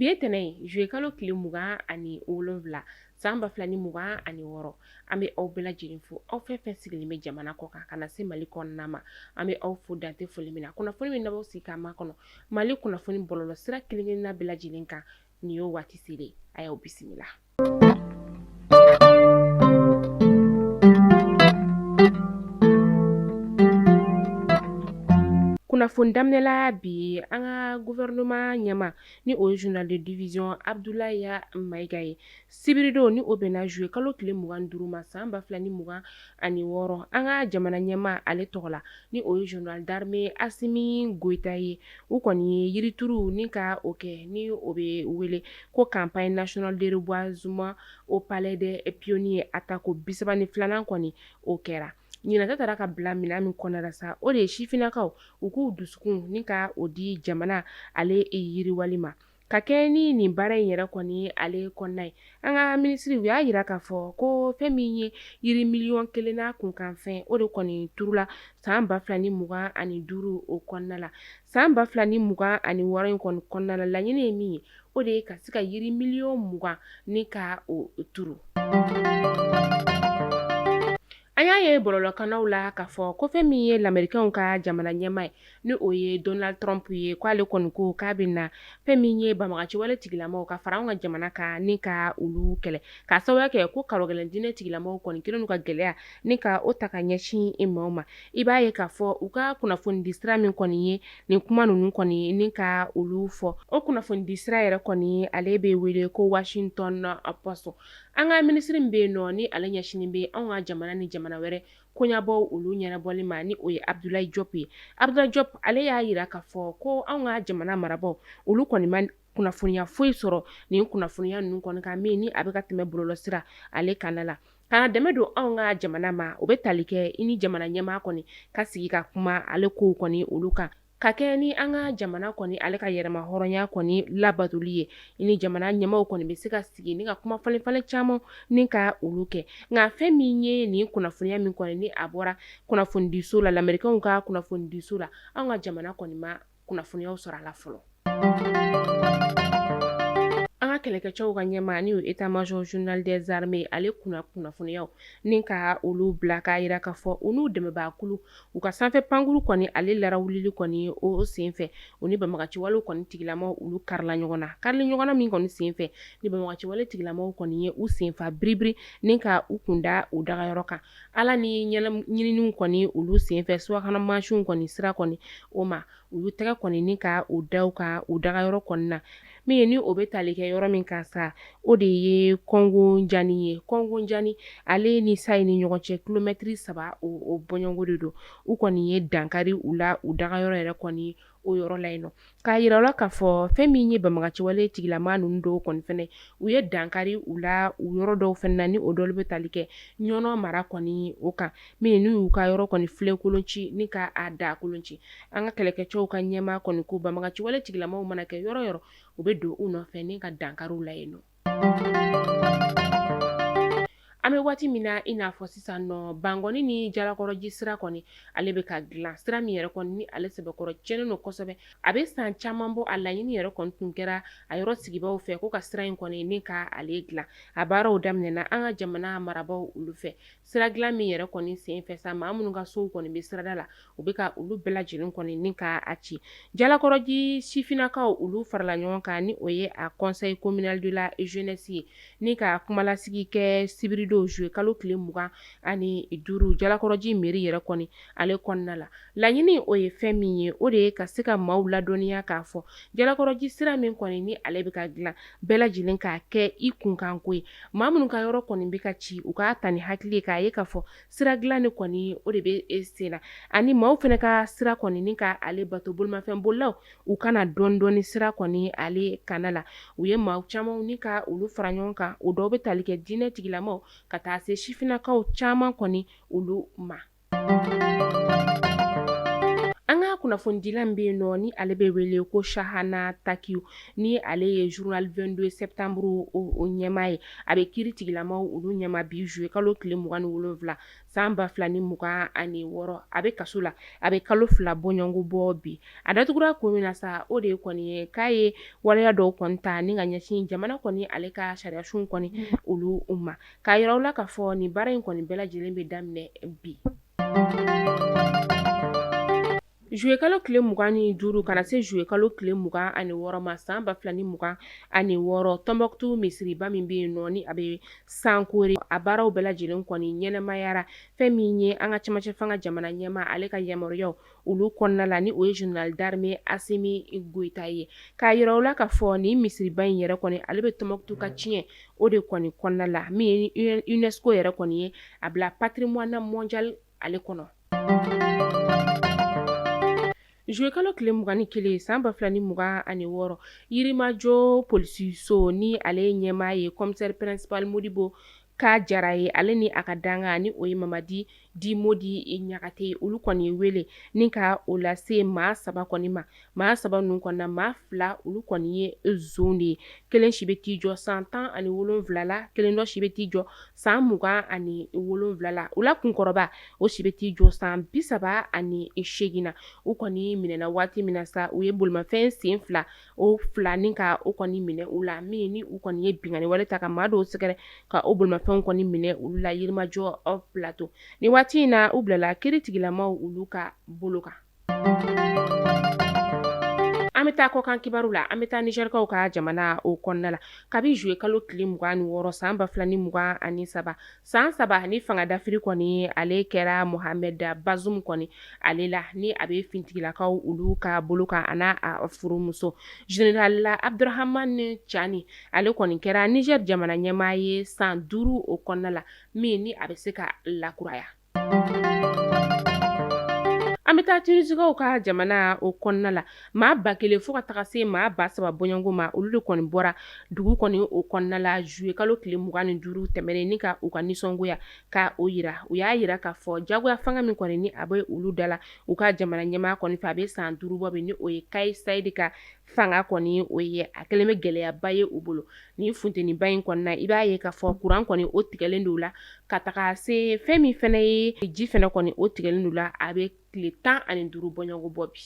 Bi ye tɛnɛn ye juillet kalo tile mugan ani wolonwula san ba fila ni mugan ani wɔɔrɔ an bɛ aw bɛɛ lajɛlen fo aw fɛn fɛn sigilen bɛ jamana kɔ kan ka na se Mali kɔnɔna ma an bɛ aw fo dan tɛ foli min na kunnafoni min n'a b'aw sigi k'a makɔnɔ Mali kunnafoni bɔlɔlɔ sira kelen kelenna bɛɛ lajɛlen kan nin y'o waati selen ye a y'aw bisimila kunnafoni daminɛla bi an ka gouvernement ɲɛmaa ni o ye général de division Abudulayi Mayiga ye Sibiridon ni o bɛnna zuye kalo tile mugan ni duuru ma san ba fila ni mugan ani wɔɔrɔ an ka jamana ɲɛmaa ale tɔgɔ la ni o ye général d'armée Assimi Goïta ye u kɔni ye yirituru ni ka o kɛ ni o bɛ wele ko campagne nationale de reboisement au palais des pionniers a tako bisaba ni filanan kɔni o kɛra ɲinan ta taara ka bila minɛn min kɔnɔna la sa o de ye sifinnakaw u k'u dusukun ni ka o di jamana ale yiriwali ma Ka kɛ ni nin baara in yɛrɛ kɔni ale kɔnɔna ye an ka minisiri u y'a yira k'a fɔ ko fɛn min ye yiri miliyɔn kelen n'a kunkanfɛn o de kɔni turula san ba fila ni mugan ani duuru o kɔnɔna la san ba fila ni mugan ani wɔɔrɔ in kɔni kɔnɔna la laɲini ye min ye o de ye ka se ka yiri miliyɔn mugan ni ka o turu An y'a ye bɔlɔlɔkannaw la k'a fɔ ko fɛn min ye lamɛrikɛnw ka jamana ɲɛmaa ye ni o ye Donald Trump ye k'ale kɔni ko k'a bɛ na fɛn min ye banbagaciwale tigilamaw ka fara an ka jamana kan ni ka olu kɛlɛ k'a sababuya kɛ ko karogɛlɛn diinɛ tigilamaw kɔni kɛlen ka gɛlɛya ni ka o ta ka ɲɛsin i maaw ma i b'a ye k'a fɔ u ka kunnafonidi sira min kɔni ye nin kuma ninnu kɔni ni ka olu fɔ o kunnafonidi sira yɛrɛ kɔni ale bɛ wele ko Washington Post An ka minisiri min bɛ yen nɔ ni ale ɲɛsinnen bɛ anw ka jamana ni jamana wɛrɛ koɲabɔw olu ɲɛnabɔli ma ni o ye Abdoulaye Diop ye Abdoulaye Diop ale y'a yira k'a fɔ ko anw ka jamana marabaaw olu kɔni ma kunnafoniya foyi sɔrɔ nin kunnafoniya ninnu kɔni kan min ni a bɛ ka tɛmɛ bɔlɔlɔsira ale kanna la ka na dɛmɛ don anw ka jamana ma o bɛ tali kɛ i ni jamana ɲɛmaa kɔni ka sigi ka kuma ale kow kɔni olu kan Ka kɛ ni an ka jamana kɔni ale ka yɛrɛmahɔrɔnya kɔni labatoli ye ni jamana ɲɛmaaw kɔni bɛ se ka sigi ni ka kuma falenfalen caman ni ka olu kɛ nka fɛn min ye nin kunnafoniya min kɔni ni a bɔra kunnafonidiso la lamɛrikɛnw ka kunnafonidiso la an ka jamana kɔni ma kunnafoniyaw sɔrɔ a la fɔlɔ an ka kɛlɛkɛcɛw ka ɲɛmaa n'o état major général des armées ale kunna kunnafoniyaw ni ka olu bila k'a yira k'a fɔ u n'u dɛmɛbaakulu u ka sanfɛ pankuru kɔni ale larawulili kɔni o senfɛ u ni banbagaciwalew kɔni tigilamaw olu karila ɲɔgɔn na karili ɲɔgɔn na min kɔni senfɛ ni banbagaciwale tigilamaw kɔni ye u senfa biribiri ni ka u kunda u dagayɔrɔ kan ala ni ɲininiw kɔni olu senfɛ subahana mansinw kɔni sira kɔni o ma u y'u tɛgɛ kɔni ni ka u da ka u dagayɔrɔ kɔni na min ye ni o bɛ tali kɛ yɔrɔ min kan sa o de ye kɔngojani ye kɔngojani ale ni Sayi ni ɲɔgɔn cɛ kilomɛtiri saba o bɔɲɔgo de don u kɔni ye dankari u la u dagayɔrɔ yɛrɛ kɔni o yɔrɔ la yen nɔ k'a yira la k'a fɔ fɛn min ye banbagaciwale tigilama ninnu dɔw kɔni fɛnɛ u ye dankari u la u yɔrɔ dɔw fɛnɛ na ni o dɔ bɛ tali kɛ ɲɔnɔ mara kɔni o kan min n'u y'u ka yɔrɔ kɔni filenkolon ci ni k'a da kolon ci an ka kɛlɛkɛcɛw ka ɲɛmaa kɔni ko banbagaciwale tigilamaw mana kɛ yɔrɔ yɔrɔ u bɛ don u nɔfɛ ni ka dankari u la yen nɔ an bɛ waati min na i n'a fɔ sisan nɔ bankɔni ni jalakɔrɔji sira kɔni ale bɛ ka dilan sira min yɛrɛ kɔni ni ale sɛbɛkɔrɔ cɛnnen don kosɛbɛ a bɛ san caman bɔ a laɲini yɛrɛ kɔni tun kɛra a yɔrɔ sigibaaw fɛ ko ka sira in kɔni ni ka ale dilan a baaraw daminɛna an ka jamana marabaaw olu fɛ sira dilan min yɛrɛ kɔni senfɛ sa maa minnu ka sow kɔni bɛ sirada la u bɛ ka olu bɛɛ lajɛlen kɔni ni ka a ci jalakɔrɔji sifinnakaw olu farala ɲɔgɔn kan ni o ye a conseil communal de la jeunesse ye ni ka kumalasigi kɛ sibiridon zuye kalo tile mugan ani duuru jalakɔrɔji mairie yɛrɛ kɔni ale kɔnɔna la Laɲini o ye fɛn min ye o de ye ka se ka maaw ladɔniya k'a fɔ jalakɔrɔji sira min kɔni ni ale bɛ ka dilan bɛɛ lajɛlen k'a kɛ i kunkanko ye maa minnu ka yɔrɔ kɔni bɛ ka ci u k'a ta ni hakili ye k'a ye k'a fɔ sira dilanni kɔni o de bɛ sen na ani maaw fɛnɛ ka sira kɔni ni ka ale bato bolimafɛn bolilaw u ka na dɔɔnidɔɔni sira kɔni ale kanna la u ye maa caman ni ka olu fara ɲɔgɔn kan o dɔw bɛ tali kɛ diinɛ tigilamaw ka taa se sifinnakaw caman kɔni olu ma An ka kunnafonidila bɛ yen nɔ ni ale bɛ wele ko Chahana Takiou ni ale ye journal vingt-deux septembre o ɲɛmaa ye a bɛ kiiritigilamaw olu ɲɛma bi zuye kalo tile mugan ni wolonwula san ba fila ni mugan ani wɔɔrɔ a bɛ kaso la a bɛ kalo fila bɔɲɔgɔnko bɔ bi a datugura ko min na sa o de ye kɔni ye k'a ye waleya dɔw kɔni ta ni ka ɲɛsin jamana kɔni ale ka sariyasun kɔni olu ma k'a yira aw la k'a fɔ nin baara in kɔni bɛɛ lajɛlen bɛ daminɛ bi Juillet kalo tile mugan ni duuru ka na se juillet kalo tile mugan ani wɔɔrɔ ma san ba fila ni mugan ani wɔɔrɔ Tɔnbukutu misiriba min bɛ yen nɔ ni a bɛ sankore a baaraw bɛɛ lajɛlen kɔni ɲɛnamayara fɛn min ye an ka cɛmancɛfanga jamana ɲɛmaa ale ka yamaruyaw olu kɔnɔna la ni o ye général d'armée Asimi Goyita ye k'a yira u la k'a fɔ nin misiriba in yɛrɛ kɔni ale bɛ Tɔnbukutu ka tiɲɛ o de kɔni kɔnɔna la min ye UNESCO yɛrɛ kɔni ye a bila patrimoine mondial ale kɔnɔ zuye kalo tile mugan ni kelen san ba fila ni mugan ani wɔɔrɔ Yirimajɔ polisiso ni ale ɲɛmaa ye commissaire principal Modibo K. Jara ye ale ni a ka dankan ni o ye Mamadi dit Mɔdi Ɲagate ye olu kɔni ye wele ni ka o lase maa saba kɔni ma maa saba ninnu kɔnɔna maa fila olu kɔni ye jeune de ye kelen si bɛ t'i jɔ san tan ani wolonwula la kelen dɔ si bɛ t'i jɔ san mugan ani wolonwula la u la kunkɔrɔba o si bɛ t'i jɔ san bi saba ani segin na u kɔni minɛna waati min na sa u ye bolimafɛn sen fila o fila ni ka o kɔni minɛ u la min ni u kɔni ye binkanni wale ta ka maa dɔw sɛgɛrɛ ka o bolomafɛnw kɔni minɛ olu la Yirimajɔ au plateau ni waati in na u bilala kiiritigilamaw olu ka bolo kan an bɛ taa kɔkan kibaru la an bɛ taa Nizɛrikaw ka jamana o kɔnɔna la kabi zuye kalo tile mugan ni wɔɔrɔ san ba fila ni mugan ani saba San saba ni fanga dafiri kɔni ale kɛra Mohamed Bazoum kɔni ale la ni a bɛ finitigilakaw olu ka bolo kan a n'a furumuso général Abdourahamane Tiani ale kɔni kɛra Nizɛri jamana ɲɛmaa ye san duuru o kɔnɔna la min ni a bɛ se ka lakuraya an bɛ taa Tinizikaw ka jamana o kɔnɔna la maa ba kelen fo ka taga se maa ba saba bɔɲɔgɔnko ma olu de kɔni bɔra dugu kɔni o kɔnɔna la zuye kalo tile mugan ni duuru tɛmɛnen ni ka u ka nisɔngoya ka o yira u y'a yira k'a fɔ jagoya fanga min kɔni ni a bɛ olu da la u ka jamana ɲɛmaa kɔni fɛ a bɛ san duuru bɔ bi ni o ye Kais Saied ka fanga kɔni o ye a kɛlen bɛ gɛlɛyaba ye u bolo ni funteniba in kɔnɔna i b'a ye k'a fɔ kuran kɔni o tigɛlen don la ka taga se fɛn min fɛnɛ ye ji fɛnɛ kɔni o tigɛlen don la a bɛ tile tan ani duuru bɔɲɔgɔnko bɔ bi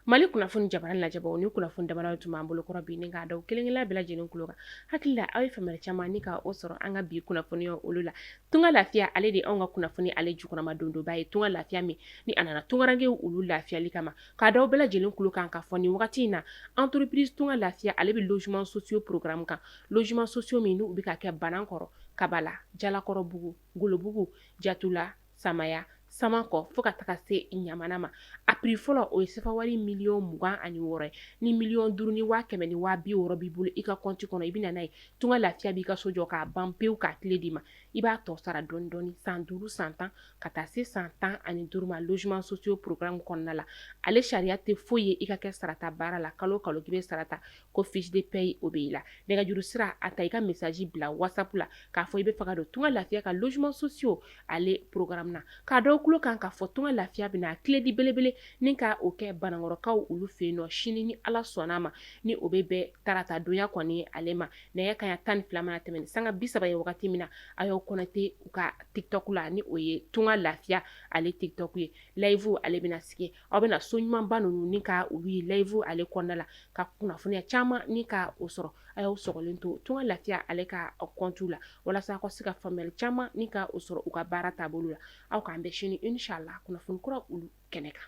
Mali kunnafoni jabaranin lajɛbaw nin kunnafoni damadɔw tun b'an bolo kɔrɔ bi n k'a da kelen-kelen bɛɛ lajɛlen kulo kan hakili la aw ye faamuya caman ni k'o sɔrɔ an ka bi kunnafoniya olu la Tunga Lafiya ale de an ka kunnafoni ale jukɔrɔmadondonba ye Tunga Lafiya min ni a nana tungarankɛw olu lafiyali kama k'a da aw bɛɛ lajɛlen kulo kan k'a fɔ ni wagati in na entreprise Tunga Lafiya ale bɛ logements sociaux programme kan logements sociaux min n'u bɛ ka kɛ Banankɔrɔ Kabala Jalakɔrɔbugu Golobugu Jatula Samaya Samanko fo ka taga se Ɲamana ma a prix fɔlɔ o ye sefa wari miliyɔn mugan ani wɔɔrɔ ye ni miliyɔn duuru ni waa kɛmɛ ni waa bi wɔɔrɔ b'i bolo i ka kɔnti kɔnɔ i bɛ na n'a ye Tunga Lafiya b'i ka so jɔ k'a ban pewu k'a kile d'i ma i b'a tɔ sara dɔɔni dɔɔni san duuru san tan ka taa se san tan ani duuru ma logements sociaux programme kɔnɔna la ale sariya tɛ foyi ye i ka kɛ sarata baarala kalo kalo k'i bɛ sara ta ko fiche de paie o bɛ i la nɛgɛjuru sira a ta i ka message bila whatsapp la k'a fɔ i bɛ fɛ ka don tunga lafiya ka logements sociaux ale programme na k'a da aw tulo kan k'a fɔ tunga lafiya bɛna a clé di belebele ni ka o kɛ banankɔrɔkaw olu fɛ yen nɔ sini ni Ala sɔnn'a ma ni o bɛ bɛn tarata donya kɔni ale ma nɛgɛ kanɲɛ tan ni fila mana tɛmɛn ni sanga bi saba ye wagati min na a y'aw connecter u ka tiktok la ni o ye tunga lafiya ale tiktok ye live ale bɛna sigi aw bɛna so ɲumanba ninnu ni ka u ye live ale kɔnɔna la ka kunnafoniya caman ni ka o sɔrɔ a y'aw sɔgɔlen to tunga lafiya ale ka compte la walasa ka se ka faamuyali caman ni ka o sɔrɔ u ka baara taabolo la aw k'an bɛn sini inshallah kunnafoni kura olu kɛnɛ kan